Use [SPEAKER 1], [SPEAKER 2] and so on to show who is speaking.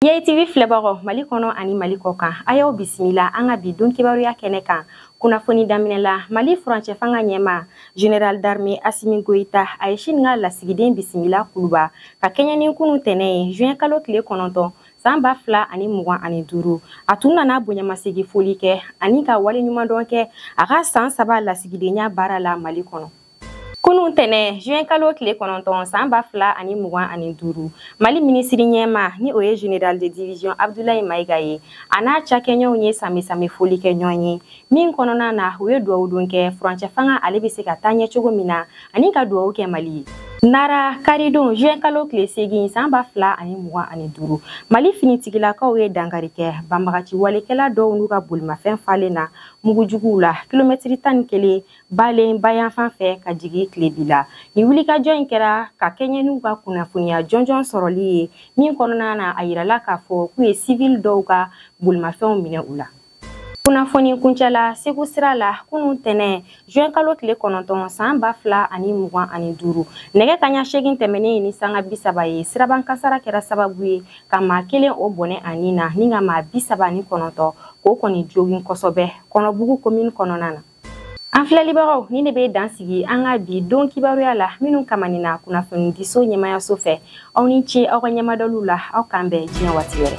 [SPEAKER 1] Yai TV filɛbagaw Mali kɔnɔ ani Mali kɔ kan a y'aw bisimila an ka bi don kibaruya kɛnɛ kan kunnafoni daminɛ la Mali furancɛ fanga ɲɛma General d'armée Assimi Goïta a ye Chine ka lasigiden bisimila kuluba ka kɛɲɛ ni kunu tɛnɛ ye juin kalo tile kɔnɔntɔn san ba fila ani mugan ani duuru a tun nana bonyamasegi foli kɛ ani ka waleɲumandɔn kɛ a ka san saba lasigidenya baara la Mali kɔnɔ. Kunun tɛnɛ juin kalo tile kɔnɔntɔn san ba fila ani mugan ani duuru mali minisiri ɲɛma ni o ye general de division abdulayi mayiga ye a n'a cakɛɲɔgɔnw ye sanbɛsanbɛ foli kɛ ɲɔgɔn ye min kɔnɔna na u ye duwawu don kɛ furancɛ fanga ale bɛ se ka taa ɲɛ cogo min na ani ka duwawu kɛ mali ye nara karidon juin kalo tile segin san ba fila ani mugan ani duuru mali finitigilakaw ye dankari kɛ banbagaciwalekɛla dɔw n'u ka bolimafɛn falen na mugujuguw la kilomɛtiri tan ni kelen balen bayanfan fɛ ka jigin tilebi la nin wulikajɔ in kɛra ka kɛɲɛ n'u ka kunnafoniya jɔnjɔn sɔrɔli ye min kɔnɔna na a yirala k'a fɔ k'u ye sivili dɔw ka bolimafɛnw minɛ u la kunnafoni kuncɛ la segu sira la kunu tɛnɛ juin kalo tile kɔnɔntɔn san ba fila ani mugan ani duuru nɛgɛ kaɲa segin tɛmɛnen ni sanga bisaba ye siraba kasara kɛra sababu ye ka maa kelen o bɔnɛ a ni na ni ka maa bisaba ni kɔnɔntɔn k'o kɔni jogin kosɔbɛ kɔnɔbugu komini kɔnɔna na an filɛlibagaw nin ne bɛ dan sigi an ka bi don kibaruya la minnu kamanina kunnafonidiso ɲɛmayaso fɛ aw ni ce aw ka ɲɛmadɔliw la aw k'an bɛn diɲɛ waati wɛrɛ